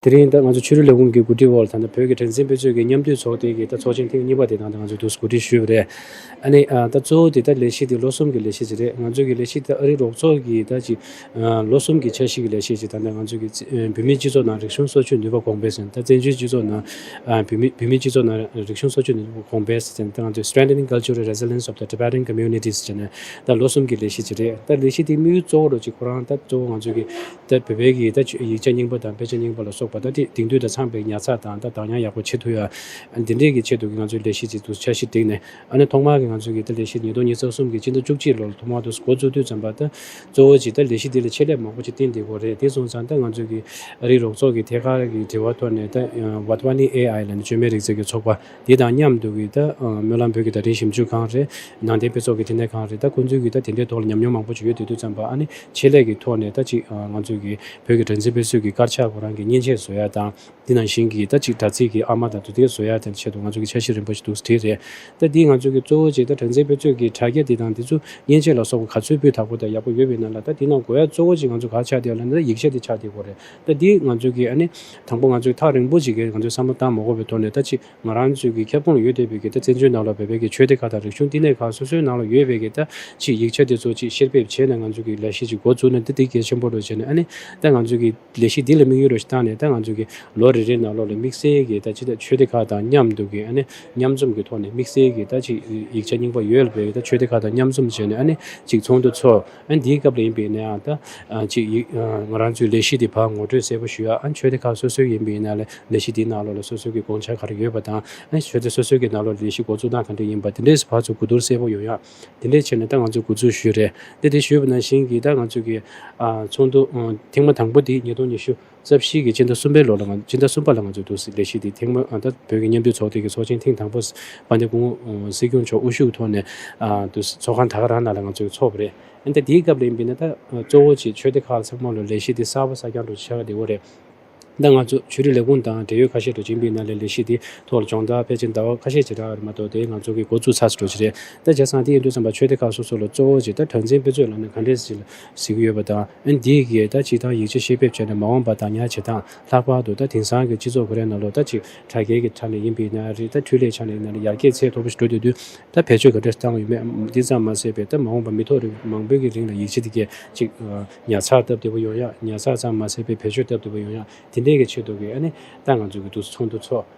དེ་རིང་ད་ང་ཚོ་ཕྱི་རོལ་ལས་ཁུངས་ཀྱི་གོ་སྒྲིག་འོག་ད་ནི་བོད་ཀྱི་དྲན་གསེང་དཔེ་མཛོད་ཀྱི་མཉམ་འདུས་ཚོགས་ཐེངས་འདི་ད་ཚོགས་ཆེན་ཐེངས་གཉིས་པ་དེ་ནང་ད་ང་ཚོས་དུས་སུ་གོ་སྒྲིག་ཞུས་པ་རེད། ཨ་ནི་ད་གཙོ་བོ་དེ་ད་ལས་གཞི་དེ་ལོ་གསུམ་གྱི་ལས་གཞི་ཞིག་རེད་ང་ཚོ་གི་ལས་གཞི་དེ་ཨ་རིའི་རོགས་ཚོགས་ཀྱི་ད་ཅིག་ལོ་གསུམ་གྱི་འཆར་གཞི་གི་ལས་གཞི་ཞིག་ད་ནི་ང་ཚོ་གི་བོད་མིའི་སྤྱི་ཚོགས་ནང་རིག་གཞུང་སོ་ཆུད་ནུས་པ་གོང་འཕེལ་ཟིན་ད་བཙན་བྱོལ་སྤྱི་ཚོགས་ནང་བོད་མི་བོད་མིའི་སྤྱི་ཚོགས་ནང་རིག་གཞུང་སོ་ཆུད་ནུས་པ་གོང་འཕེལ་ཟིན་ད་ང་ཚོས Strengthening Cultural Resilience of the Tibetan Communities ཅེས་ནས་ད་ལོ་གསུམ་གྱི་ལས་གཞི་ཅི་རེད་ད་ལས་གཞི་དེ་དམིགས་ཡུལ་གཙོ་བོ་རུ་གཅིག་ཁོ་རང་ད་གཙོ་བོ་ང་ཚོ་གིས་ད་བོད་པའི་གི་ད་ཡིག་ཆ་རྙིང་པ་དང་དཔེ་ཆ་རྙིང་པ་ལ་སོགས་པ་ད་དེ་དེང་དུས་ད་ཚང་པའི་ཉར་ཚགས་དང་ད་གདངས་དབྱངས་ཡག་པོ་ཆེད་དུ་ཡ་འདི་འདྲས་གི་ཆེད་དུ་གི་ང་ཚོའི་ལས་གཞི་ཅིག་ཏུ་འཆར་གཞི་བསྒྲིགས་ནས་ཨ་ནི་ཐོག་མར་གི་ང་ཚོ་གི་ད་ལས་གཞི་ཉིས་སྟོང་ཉིས་རྩ་གསུམ་གི་སྤྱི་ཟླ་བཅུ་གཅིག་ལོར་ཐོག་མར་དུ་འགོ་བཙུགས་དུས་ཙམ་པ་ད་གཙོ་བོ་ཅིག་ད་ལས་གཞི་འདི་ལ་ཆེད་ལས་མང་པོ་ཅིག་བསྟན་འདི་གོ་རེད་དེ་སོང་ཙང་ད་ང་ཚོ་གི་རིགས་རོགས་ཚོགས་གི་ཐད་ཀར་གི་དྲི་བ་ཐོག་ནས་ད་བྷ་ཏི་བྷ་ནི་ཨེ་ཨའི་ལ་ནི་བཅོས་མའི་རིག་རྩལ་གྱི་ཚོགས་པ། དེ་དང་མཉམ་དུ་གི་ད་སྨོན་ལམ་བོད་ཀྱི་དད་ལྡན་ཞིབ་འཇུག་ཁང་རེད། ནང་བསྟན་དཔེ་ཚོགས་ཀྱི་ཕྲིན་ལས་ཁང་རེད་ད་ཁོང་ཚོའི་གི་ད་དེ་འདྲའི་ཐོག་ལ་ཉམས་མྱོང་མང་པོ་ཞིག་ཡོད་དུས་དུས་ཙམ་པ་ཨ་ནི་ཆེད་ལས་ཀྱི་ཐོག་ནས་ད་ཅིག་ང་ཚོས་གི་བོད་ཀྱི་སྒྲ་འཛིན་དཔེ་སྲོལ་གྱི་དཀར་ཆག་ཁོ་རང་གི་མཉེན་ཆས་བཟོ་ཡ་དང་དེ་ནང་བཞིན་གི་ད་ཅིག་དྲ་ཚིགས་ཀྱི་ཨ་མ་དང་དུ་དེ་བཟོ་ཡ་དེ་ཆེད་དུ་ང་ཚོ་གི་འཆར་གཞི་རིམ་པ་ཞིག་འདུག་ས་དེ་རེད་ད་དེ་ང་ཚོས་གི་གཙོ་བོ་ཆེ་ད་སྒྲ་འཛིན་དཔེ་ཚོས་གི་དྲ་རྒྱ་དེ་དང་དེ་ཚོ་མཉེན་ཆས་ལ་སོགས་པ་ག་ཚོད་སྤུས་དག་པོ་དང་ཡག་པོ་ཡོད་པའི་ནང་ལ་ད་དེ་ནང་གོ་ཡ་གཙོ་བོ་ཆེ་ང་ཚོ་ག་ཆག་དེ་ཡ་ལ་ནི་ད་ཡིག་ཆ་དེ་ཆག་དེ་གོ་རེད་ལྟ་འདི་ང་ཚོས་ཀྱིས་ཨ་ནི། དང་པོ་ང་ཚོས་ཐག་རིང་པོ་ཞིག་གི་ང་ཚོའི་བསམ་བློ་བཏང་མ་གོ་བའི་ཐོག་ནས་ལྟ་ཅི། ང་རང་ཚོས་ཀྱི་ཁྱབ་ཁོངས་ལ་ཡོད་བསྡད་པའི་ཀྱི་ལྟ་བཙན་བྱོལ་ནང་ལ་བོད་པའི་ཀྱི་ཆོས་སྡེ་ཁག་དང་རིག་གཞུང་བསྟི་གནས་ཁག་སོ་སོའི་ནང་ལ་ཡོད་པའི་ཀྱི་ལྟ་ཅི་ཡིག་ཆ་དེ་ཚོ་ཅིག་བཤེར་འབེབས་བྱས་ནས་ང་ཚོས་ཀྱི་ལས་གཞི་ཅིག་འགོ་བཙུགས་ན་ལྟ་འདི་གལ་ཆེན་པོ་རེད་བྱས་ནས་ཨ་ནི། ལྟ་ང་ཚོས་ཀྱི་ལས་གཞི་འདི་ལ་དམིགས་ཡུལ་རེ་ཞིག་བཏང་ནས་ལྟ་ང་ཚོས་ཀྱི་ལོ་རེ་རེའི་ནང་ལོ་ལ་དམིགས་བསལ་གྱི་ལྟ་ཅི་ལྟ་ཆོས་སྡེ་ཁག་དང་མཉམ་དུ་ཀྱི་ཨ་ནི། མཉམ་འཛོམས་ཀྱི་ཐོག་ནས་དམིགས་བསལ་གྱི་ལྟ་ཅི་ཡིག་ཆ་རྙིང་པ་ཡོད་པའི་ལྟ་ཆོས་སྡེ་ཁག་དང་མཉམ་འཛོམས་བྱས་ནས་ཨ་ནི། ཅིག་ཚོགས་འདུ་འཚོགས། ཨན་དེའི་སྐབས་ལ་ཡིན་པའི་ནའང་ད་ཅིག་ཡིག་ང་རང་ཚོའི་ལས་གཞི་དེ་བར་ངོ་སྤྲོད་གསལ་པོ་ཞུ་ཡ་ཨན་ཆོས་སྡེ་ཁག་སོ་སོའི་ཡིན་པའི་ནའ་ལས་ལས་གཞི་དེའི་ནང་ལོགས་ལ་སོ་སོའི་གི་དགོངས་འཆར་ག་རེ་ཡོད་པ་དང་ཨན་ཆོས་སྡེ་སོ་སོའི་གི་ནང་ལོགས་ལ་ལས་གཞི་འགོ་འཛུགས་སྟངས་ག་འདྲ་ཡིན་པ་དེ་འདྲས་སུ་བར་ཚོ་གོ་བསྡུར་གསལ་པོ་ཡོང་ཡ་དེ་འདྲས་བྱས་ནས་ད་ང་ཚོས་འགོ་འཛུགས་ཞུས་རེད་དེ་དེ་ཞུས་པ་ནང་བཞིན་གི་ད་ང་ཚོའི་གི་ཚོགས་འདུ་ཐེངས་མ་དང་པོ་དེ་ཉིས་སྟོང་ཉི་ཤུ། རྩ་བཞི་གི་སྤྱི་ཟླ་གསུམ་པའི་ལོ་ལ་སྤྱི་ཟླ་གསུམ་པ་ལ་ང་ཚོས་འདུག་སྲིད་ལས་གཞི་འདི་ཐེངས་མང་ད་བོད་ཀྱི་མཉམ་འདུས་ཚོགས་སྡེ་གི་ཚོགས་ཆེན་ཐེངས་དང་པོ་པ་འདི་ཀུང་ཨུ་སྲིད་སྐྱོང་མཆོག་དབུ་བཞུགས་ཐོག་ནས་འདུག་སྲིད་ཚོགས་ཁང་ད་ག་རང་ནང་ལ་ང་ཚོས་འཚོགས་པ་རེད། འོན་ཏེ་དེའི་སྐབས་ལ་ཡིན་པས་ན་ད་གཙོ་བོ་ཆེ་ཆོས་སྡེ་ཁག་ཚང་མ་ལ་ལས་གཞི་འདི་གསར་པ་གསར་རྐྱང་སྒྲོག་བྱེད་ཆགས་ཀྱི་འདི་འོ་རེད། ད་ང་ཚོ་ཆོས་རིག་ལས་ཁུངས་དང་འབྲེལ་ཡོད་ཁ་ཤས་དྲོ་ཆིངས་པའི་ནང་ལས་ལས་གཞི་འདི་ཐོག་ལ་སྦྱོང་བརྡར་ཕལ་ཆེར་ཟླ་བ་ཁ་ཤས་བྱེད་གྲ་མ་གཏོགས་དེ་ང་ཚོ་གི་འགོ་བཙུགས་ཚར་སོ་དྲོ་ཆེ་རེད། ད་བྱས་ཙང་དེ་ཡིན་དུས་ཚང་པ་ཆོས་སྡེ་ཁག་སོ་སོ་ལ་གཙོ་བོ་ཆེ་ད་གྲངས་འཛིན་དཔེ་མཛོད་ལ་ནས་ག་འདྲས་ཟིན་ལ། གཟིགས་ཀྱི་ཡོད་པ་དང། འདིས་ཀྱིས་ད་ཅིག་ཐང་ཡིག་ཆ་ཤེས་ཕེབས་བྱས་ནས་མ་འོངས་པ་དང་ཉར་བྱེད་དང་ལྷག་པར་དུ་ད་དེང་སང་གི་སྤྱི་ཚོགས་ཀོ་རེ་ན་ལོ་ད་ཅིག་དྲ་རྒྱའི་གི་ཆ་ནས་ཡིན་པའི་ན་རེ་ད་འཕྲུལ་ལས་ཆ་ནས་ན་རེ་ཡར་རྒྱས་ཚད་མཐོ་པོ་ཞིག་འགྲོ་བསྡད་དུས་ད་བེད་སྤྱོད་ག་འདྲ་བཏང་ཡོད་མེད་འདི་ཙམ་མ་ཟད་པའི་ད་མ་འོངས་པ་མི་ཐོག་རེ་མང་པོའི་གི་རིང་ལ་ཡིག་ཆ་འདི་གས་ཅིག་ཉར་ཚགས་སྟབས་བདེ་པོ་ཡོང་ཡག་ཉར་ཚགས་ཙམ་མ་ཟད་པའི་བེད་སྤྱོད་སྟབས་བདེ་པོ་ཡོང་ཡག་དེ་འདྲའི་གི་ཆེད་དུ་གི་ཨ་ནི་ད་ང་ཚོ་གི་འདུག་ཚོགས་འདུ་ཚོགས།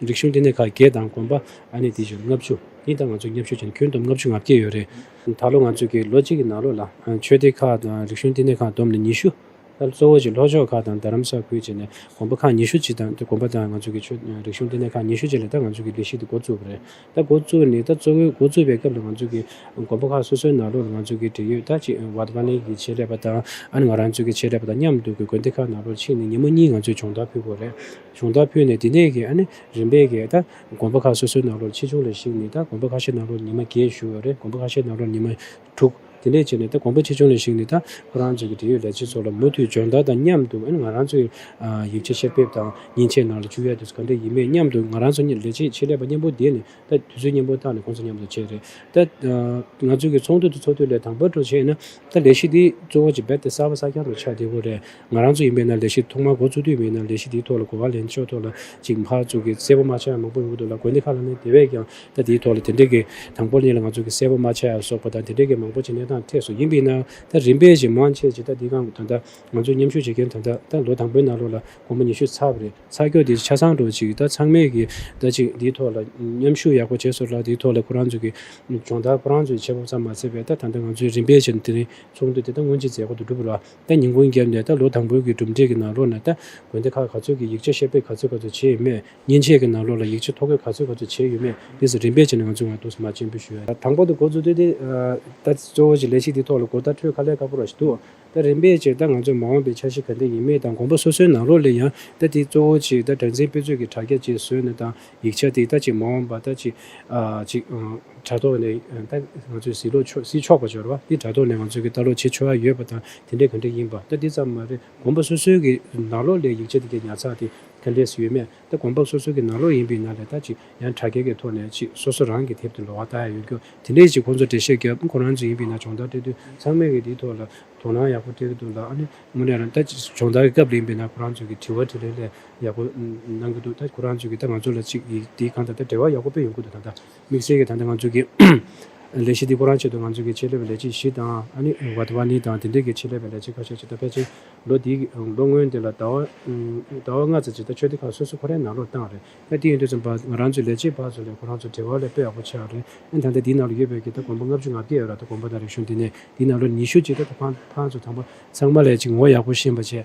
རིག་གཞུང་ལྟེ་གནས་ཁག་བརྒྱད་དང་དགོན་པ་ཨ་ནེ་དེ་བཞིན་ལྔ་བཅུ། འདི་དང་ང་ཚོ་མཉམ་ཞུགས་བྱས་ན་ཁྱོན་བསྡོམས་ལྔ་བཅུ་ང་བརྒྱད་ཡོད་རེད། ད་ལོ་ང་ཚོས་ཀྱི་ལོ་གཅིག་གི་ནང་ལོ་ལ་ཆོས་སྡེ་ཁག་དང་རིག་གཞུང་ལྟེ་གནས་ཁག་བསྡོམས་ནས་ཉི་ཤུ། གཙོ་བོ་ཆེ་ལྷོ་ཕྱོགས་ཁག་དང་རྡ་རམ་ས་ཁུལ་བཅས་ནས་དགོན་པ་ཁག་ཉི་ཤུ་གཅིག་དང་དེ་དགོན་པ་དང་ང་ཚོ་ཀྱི་ཆོས་རིག་གཞུང་ལྟེ་གནས་ཁག་ཉི་ཤུ་བཅས་ལས་ད་ང་ཚོ་ཀྱི་ལས་གཞི་འདི་འགོ་བཙུགས་པ་རེད། ད་འགོ་བཙུགས་ནས་ད་གཙོ་བོའི་འགོ་བཙུགས་པའི་སྐབས་ལ་ང་ཚོ་ཀྱི་དགོན་པ་ཁག་སོ་སོའི་ནང་ལོ་ལ་ང་ཚོ་ཀྱི་འབྲེལ་ཡོད་ད་ཅིག་བར་བྷ་ལིན་གྱི་ཆེད་ལས་པ་དང་ཨ་ནེ་ང་རང་ཚོའི་ཆེད་ལས་པ་དང་མཉམ་དུ་ཀྱི་དགོན་སྡེ་ཁག་ནང་ལོ་ཕྱིན་ནས་ཉིན་མོ་གཉིས་ང་ཚོས་སྦྱོང་བརྡར་ཕུལ་དགོས་རེད། གཞུང་བརྡ་ཕུལ་ནས་འདི་ནས་ཀྱི་རིམ་པས་ཀྱི་དགོན་པ་ཁག་སོ་སོའི་ནང་ལོར་ཆེ་ཆུང་ལ་གཞིགས་ནས་དགོན་པ་ཁ་ཤས་ནང་ལོར་ཉི་མ་བརྒྱད་བཞུགས་ཡོད་རེད་དགོན་པ་ཁ་ཤས་ནང་ལོར་ཉི་མ་དྲུག་དེ་འདྲས་བྱས་ནས་དགོན་པ་ཆེ་ཆུང་ལ་གཞིགས་ནས་ཁོ་རང་ཅག་གི་འབྲེལ་ཡོད་ལས་བྱེད་ཚོ་ལ་མུ་མཐུད་སྦྱོང་བརྡར་དང་མཉམ་དུ་ང་རང་ཚོའི་ཡིག་ཆ་བཤེར་འབེབས་དང་ཉིན་ཕྱེད་ནང་ལ་བཅུག་ཡ་དུས་ཚོད་ག་འདྲ་ཡིན་མེད་མཉམ་དུ་ང་རང་ཚོ་ལས་བྱེད་ཆེད་ལས་པ་མཉམ་པོ་བསྡད་ནས་དུས་ཚོད་མཉམ་པོ་བཏང་ནས་ཁོང་ཚོ་མཉམ་དུ་བྱས་རེད་ང་ཚོ་གི་ཚོགས་འདུ་འདི་ཚོགས་དུས་ལས་དང་བབ་འགྲོ་བྱས་ན་ལས་གཞི་འདི་གཙོ་བོ་ཅི་འབད་དེ་གསར་པ་གསར་རྐྱང་དུ་ཆགས་བདེ་བོ་རེད། ང་རང་ཚོ་ཡིན་པས་ན་ལས་གཞི་ཐོག་མར་འགོ་བཙུགས་དུས་མིན་ན་ལས་གཞི་འདིའི་ཐོག་ལ་གོ་བ་ལེན་ཆོག་ཐོག་ལ་ཅིག་མ་བཙུགས་གི་གསལ་པོ་མ་ཆགས་མང་པོ་ཡོང་གི་འདུག་ལ་དགོན་སྡེ་ཁག་ལ་ནི་དེ་བས་ཀྱང་ད་དེའི་ཐོག་ལ་དེ་འདྲའི་གི་དང་པོར་ཉིད་ལ་ང་ཚོ་གི་གསལ་པོ་མ་ཆགས་སོགས་པ་དང་དེ་འདྲའི་གི་མང་པོ་ཅིག་གནས་སྟངས་ཐད་སོགས་ཡིན་པས་ན་ད་རིམ་པས་ཞིག་མང་ཆེ་ཆེ་ད་འདི་གང་ད་ད་ང་ཚོ་མཉམ་ཞུགས་བྱེད་མཁན་ད་ད་ད་ལོ་དང་པོའི་ནང་ལོགས་ལ་དགོང་མོ་ཉི་ཤུ་ཚར་བ་རེད་ཚར་སྐྱོ་དེ་ཆ་ཚང་འགྲོ་ཅིག་ད་ཚང་མས་གི་ད་ཅིག་འདིའི་ཐོག་ལ་མཉམ་ཞུགས་ཡག་པོ་བྱེད་སོགས་ལ་དེའི་ཐོག་ལ་ཁོ་རང་ཚོ་གི་སྦྱོང་བརྡར་ཁོ་རང་ཚོས་བྱེད་ཕོབ་ཙམ་མ་ཚད་པས་ད་ད་ལྟ་ང་ཚོས་རིམ་པས་ཕྱིར་དེ་རིང་ཚོགས་འདུ་དེ་ད་སྔོན་ཅི་མཛད་གོ་ཏུ་འགྲུབ་ར། ད་ཉིན་གུང་རྒྱབ་ནས་ད་ལོ་དང་པོའི་གི་གྲུབ་འབྲས་ཀྱི་ནང་ལོགས་ནས་ད་དགོན་སྡེ་ཁག་ག་ཚོད་ཀྱི་ཡིག་ཆ་བཤེར་འབེབས་ག་ཚོད་ག་ཚོད་བྱས་ཡོད་མེད་ཉིན་ཕྱེད་ཀྱི་ནང་ལོགས་ལ་ཡིག་ཆ་ཐོ་འགོད་ག་ཚོད་ག་ཚོད་བྱས་ཡོད་མེད་དེ་སོགས་རིམ་པས་བྱས་ནས་ང་ཚོས་ངོ་ཐུགས་སུ་མ་ཆེན་པོ་ཞུ། དང་པོ་དུ་འགོ་བཙུགས་དུས་དེ་ད་གཙོ་བོ་གྱི་ལས་ཤིག་དེ་ཐོག་ལ་འགོ་བསྟར་འཕྲོས་ཁ་ལས་ཁ་པོ་ར་ཞིག་འདུག་ད་རིམ་པས་ཕྱིར་ད་ང་ཚོས་མ་འོངས་པའི་འཆར་གཞི་ག་འདི་ཡིན་མིན་དང་དགོན་པ་སོ་སོའི་ནང་ལོགས་ལས་ཡང་ད་དེ་གཙོ་བོ་གྱི་ད་དྲ་འཛིན་དཔེ་མཛོད་ཀྱི་དྲ་རྒྱ་བཅས་བཟོས་ནས་དང་ཡིག་ཆ་དེ་ད་ཅི་མ་འོངས་པ་ད་ཅི། ཅིག། དྲ་ཐོག་ནས་ད་ང་ཚོས་ཟིག་ལོག་ཆོག་ཟིག་ཆོག་པ་འབྱོར་བ་འདི་དྲ་ཐོག་ནས་ང་ཚོས་ཀྱི་ལྟ་ལོག་བྱེད་ཆོག་ཨ་ཡོད་པ་དང་དེ་འདྲས་ག་འདྲས་ཡིན་པ་ད་འདི་ཙམ་མ་རེད་གོམ་པ་སོ་སོའི་གི་ནག་ལོག་ལས་ཡིག་ཆ་དེ་གའི་ཉར་ཚགས་དེ་ག་འདྲས་སུ་ཡོད་མེད་ད་གོམ་པ་སོ་སོའི་གི་ནག་ལོག་ཡིན་པའི་ནང་ལས་ད་ཅི་ཡང་དྲ་རྒྱ་གའི་ཐོག་ནས་ཅིག་སོ་སོ་རང་གི་དེབ་དེ་ལོག་བ་ད་ཡང་ཡོད་རྒྱུ་དེ་འདྲས་ཅིག་ཁོང་ཚོར་འགྲེལ་བཤད་རྒྱབ་ཁོ་རང་ཚོ་ཡིན་པའི་ནང་སྦྱོང་བརྡར་སྤྲད་དུས་ཚང་མས་གི་འདིའི་ཐོག་ལ་དོ་སྣང་ཡག་པོ་སྤྲད་གི་འདུག་ལ་ཨ་ནི་དངོས་གནས་རང་ད་ཅི་སྦྱོང་བརྡར་གི་སྐབས་ལ་ཡིན་པའི་ནང་ཁོ་རང་ཚོས་གི་དྲི་བ་དྲི་ལན་ལས་ཡག་པོ་གནང་གི་འདུག་ད་ཁོ་རང་ཚོས་ཀྱིས་ད་ང་ཚོ་ལ་ཅིག་ཡིག་འདིའི་གང་དང་ད་འབྲེལ་བ་ཡག་པོ་སྤེལ་ཡོང་ཁུལ་དུ་དང་ད་དམིགས་བསལ་གྱིས་ད་ལྟ་ང་ཚོས་ཀྱིས་ལས་གཞི་འདི་ཁོ་རང་ཆེད་དུ་ང་ཚོས་ཀྱིས་ཆེད་ལས་པའི་ལས་བྱེད་བཞི་དང་ཨ་ནི Wadhwani དང་དེ་འབྲེལ་གྱི་ཆེད་ལས་པའི་ལས་བྱེད་ཁ་ཤས་ཀྱིས་ད་ཕལ་ཆེར་ལོ་འདིའི་ལོ་སྔོན་འདི་ལ་ཟླ་བ་ལྔ་ཙམ་ཅིག་ད་ཆོས་སྡེ་ཁག་སོ་སོ་ཁོ་རང་ནང་ལོགས་བཏང་རེད་ད་དེ་ཡིན་དུས་ཙམ་བར་ང་རང་ཚོའི་ལས་བྱེད་བག་ཚོ་ལས་ཁོ་རང་ཚོ་འབྲེལ་བ་ལས་པོ་ཡག་པོ་ཆགས་རེད་ཨན་ད་ལྟ་འདིའི་ནང་ལོ་ཡོད་པའི་ཀྱིས་ད་དགོངས་པ་ལྔ་བཅུ་ང་བརྒྱད་ཡོད་ར་ད་དགོངས་པ་དང་རིག་གཞུང་འདི་ནས་འདིའི་ནང་ལོ་ཉི་ཤུ་ཅིག་ད་ད་ཕང་ཕང་ཚོ་ཚང་མ་ཚང་མ་ལས་ཅིག་ངོ་ཡག་པོ་ཤེས་པ་བྱས།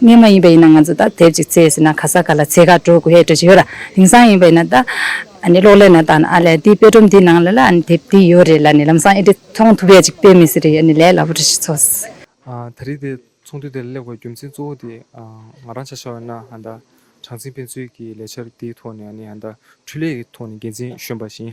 གནས་མ་ཡིན་པ་ཡིན་ན་ང་ཚོ་ད་དེབ་ཅིག་བཙལ་ཟིན་ན་ག་ས་ག་ལ་ཚེ་ག་འགྲོ་དགོས་ཡས་འགྲོ་ཅི་ཡོད་ར་དེང་སང་ཡིན་པ་ཡིན་ན་ད་གློག་ཀླད་ན་ད་ཨ་ལས་དེའི་དཔེ་སྒྲོམ་དེའི་ནང་ལ་ལ་དེབ་དེ་ཡོད་རེད་ལ་ནི་ལམ་སང་ཨེ་འདྲི་མཐོང་ཐུབ་ཡས་ཅིག་དཔེ་མི་སྲིད་རེད་ཡས་ནི་ལས་སླ་པོ་རེད་ཞིག་ཚོགས་སི། ད་རིས་དེ་ཚོགས་འདུ་དེ་ལ་གླེགས་པའི་རྒྱུ་མཚན་གཙོ་བོ་དེ་ང་རང་ཆ་ཤ་བ་ན་ཨ་ད་གྲངས་འཛིན་དཔེ་མཛོད་ཀྱི་ལས་འཆར་དེའི་ཐོག་ནས་ཨ་ནི་ཨ་ད་འཕྲུལ་ལས་ཀྱི་ཐོག་ནས་འགན་འཛིན་གཞོན་པ་བཞིན་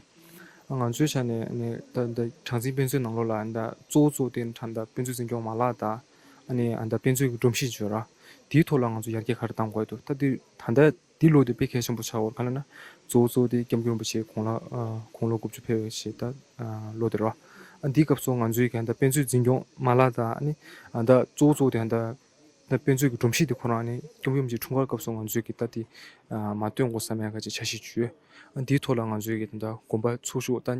ཨ་ང་ཚོའི་ཆ་ནས་ཨ་ནི་ད་ད་གྲངས་འཛིན་དཔེ་མཛོད་ནང་ལོགས་ལ་ཨ་ད་གཙོ་བོ་གཙོ་བོ་དེ་ཨ་ད་དཔེ་མཛོད་འཛིན་སྐྱོང་མ་ལག་དང། ཨ་ནེ་ཨ་མདའ་དཔེ་མཛོད་ཀྱི་སྒྲོམ་གཞི་བརྗོད། དེའི་ཐོག་ལ་ང་ཚོ་ཡར་རྒྱས་ག་རེ་གཏང་དགོས་འདུག་ད་འདི་ད་ལྟ་འདི་ལོ་དེ་དཔེ་གལ་ཆེན་པོ་ཆགས་བར་ག་ལ་ན་གཙོ་བོ་གཙོ་བོ་དེ་སྐྱབས་མགོན་རིན་པོ་ཆེ་གོང་ལ་དགུང་ལོ་དགུ་བཅུ་འཕེལ་བའི་ཞེས་ད་ལོ་དེར་བ། འདི་སྐབས་སུ་ང་ཚོའི་ག་ད་དཔེ་མཛོད་འཛིན་སྐྱོང་མ་ལག་དང་ཨ་ནེ་ཨ་མདའ་གཙོ་བོ་གཙོ་བོ་དེ་ད་ད་དཔེ་མཛོད་ཀྱི་སྒྲོམ་གཞི་དེ་ཁོ་རང་ཨ་ནེ་སྐྱབས་མགོན་རིན་པོ་ཆེ་འཁྲུངས་སྐར་སྐབས་སུ་ང་ཚོས་གི་ད་དེ་མ་བཏོད་འགོ་བསམ་ཡང་ག་ཅིག་བྱ་ཞེས་བརྗོད། འདིའི་ཐོག་ལ་ང་ཚོས་གི་ད་དགོངས་པ་ཚུགས་ཤོག་ད།